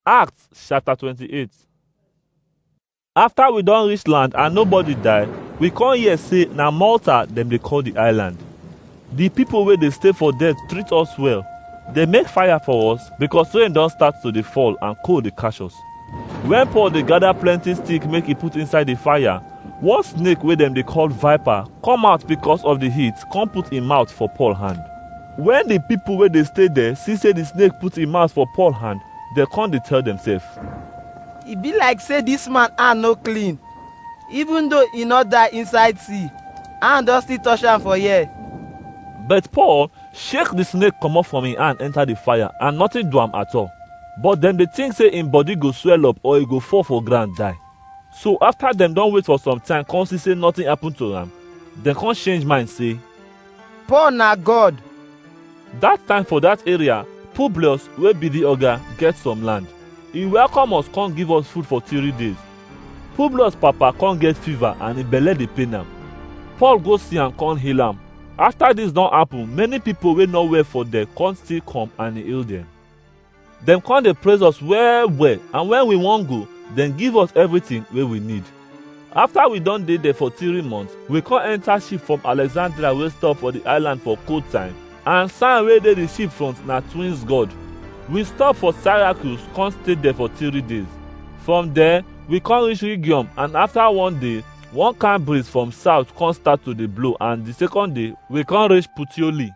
Acts chapter 28 After we don reach land and nobody die, we come hear say na Malta dem dey call the island. The people wey dey stay for there treat us well. They make fire for us because rain don start to dey fall and cold dey catch us. When Paul dey gather plenty stick make he put inside the fire, one snake wey dem dey call viper come out because of the heat come put im mouth for Paul hand. Wen di pipo wey dey stay der si sey di snake put im mout for Paul hand, dem kon dey tell demsef, E bi like sey dis man hand no klin, ivun doh e nor die inside si, hand don stil tosh am for here. But Paul shake di snake komot from im hand enta di fire and notin du am atol. But dem dey tink sey im body go swell up or e go fall for groun die. So afta dem don wait for some time kon si sey notin apun to am, dem kon change mind sey, Paul na God. That time for that area, Publius wey be the oga get some land. He welcome us come give us food for three days. Publius papa come get fever and him belle dey pain am. Paul go see am come heal am. After this don happen, many people wey no well for there come still come and he heal them. Dem come dey praise us well well and when we wan go, dem give us everything wey we need. After we don dey there for three months, we come enter ship from Alexandria wey stop for the island for cold time and sign wey dey the ship front na twins god. We stop for Syracuse come stay there for three days. From there, we come reach Rhegium and after one day, one kind breeze from south come start to dey blow and the second day, we come reach Puteoli.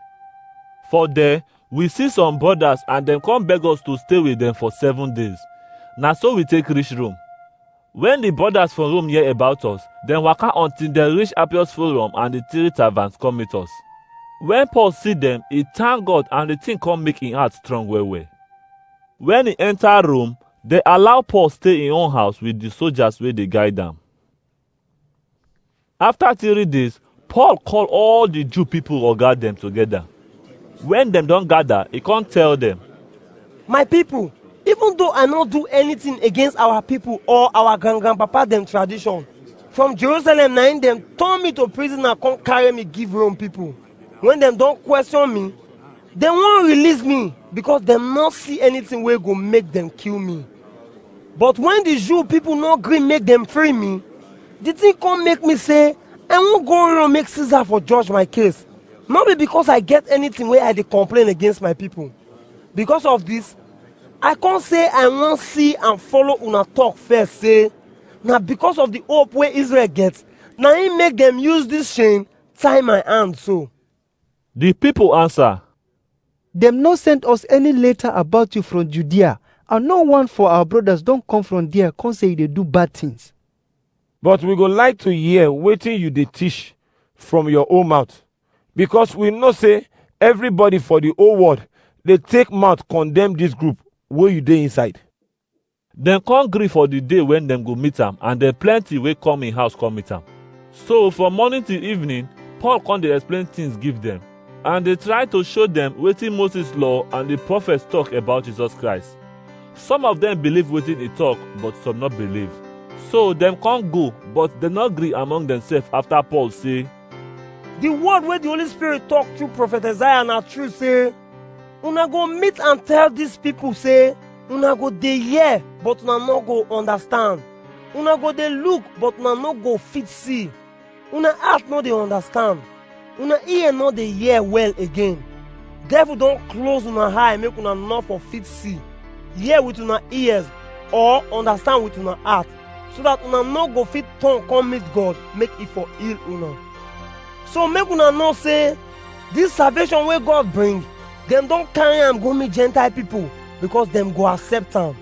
For there, We see some brothers and dem come beg us to stay with dem for seven days. Na so we take reach Rome. When the brothers for Rome hear about us, dem waka until dem reach Appius Forum and the three taverns come meet us. When Paul see dem, he thank God and the thing come make him heart strong well well. When he enter Rome, dem allow Paul stay him own house with the soldiers wey dey guide am. After three days, Paul call all the Jew people or guard them together. When them don't gather, he can't tell them. My people, even though I not do anything against our people or our grand grandpapa them tradition, from Jerusalem nine them turn me to prisoner, come carry me give Rome people. when dem don question me dem wan release me because dem no see anything wey go make dem kill me but when the jew people no gree make dem free me the thing come make me say i wan go run make caesar for judge my case no be because i get anything wey i dey complain against my people because of this i come say i wan see and follow una talk first say na because of the hope wey israel get na im make dem use this chain tie my hand so. The people answer, Dem no send us any letter about you from Judea, and no one for our brothers don come from there come say you dey do bad things. But we go like to hear wetin you dey teach from your own mouth, because we know say everybody for the whole world dey take mouth condemn this group wey you dey inside. Dem come gree for the day when dem go meet am and dem plenty wey come im house come meet am. So from morning till evening, Paul come dey explain things give dem and dey try to show dem wetin Moses law and the prophets talk about Jesus Christ. Some of dem believe wetin e talk but some no believe. So dem come go but dem no gree among themselves after Paul say, The word wey the Holy Spirit talk through prophet Isaiah na true say, una go meet and tell dis pipo say una go dey hear but una no go understand una go dey look but una no go fit see una heart no dey understand una ear no dey hear well again devil don close una eye make una no for fit see hear with una ears or understand with una heart so that una no go fit turn come meet god make e for heal una so make una know say This salvation wey God bring, dem don carry am go meet Gentile people because dem go accept am.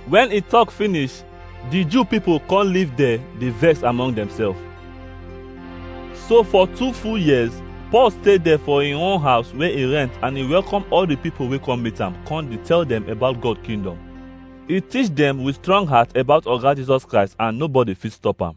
When he talk finish, the Jew people come live there, dey vex among themselves. So for two full years, Paul stay there for him own house where he rent and he welcome all the people wey come meet am, come dey tell them about God kingdom. He teach them with strong heart about Oga Jesus Christ and nobody fit stop am.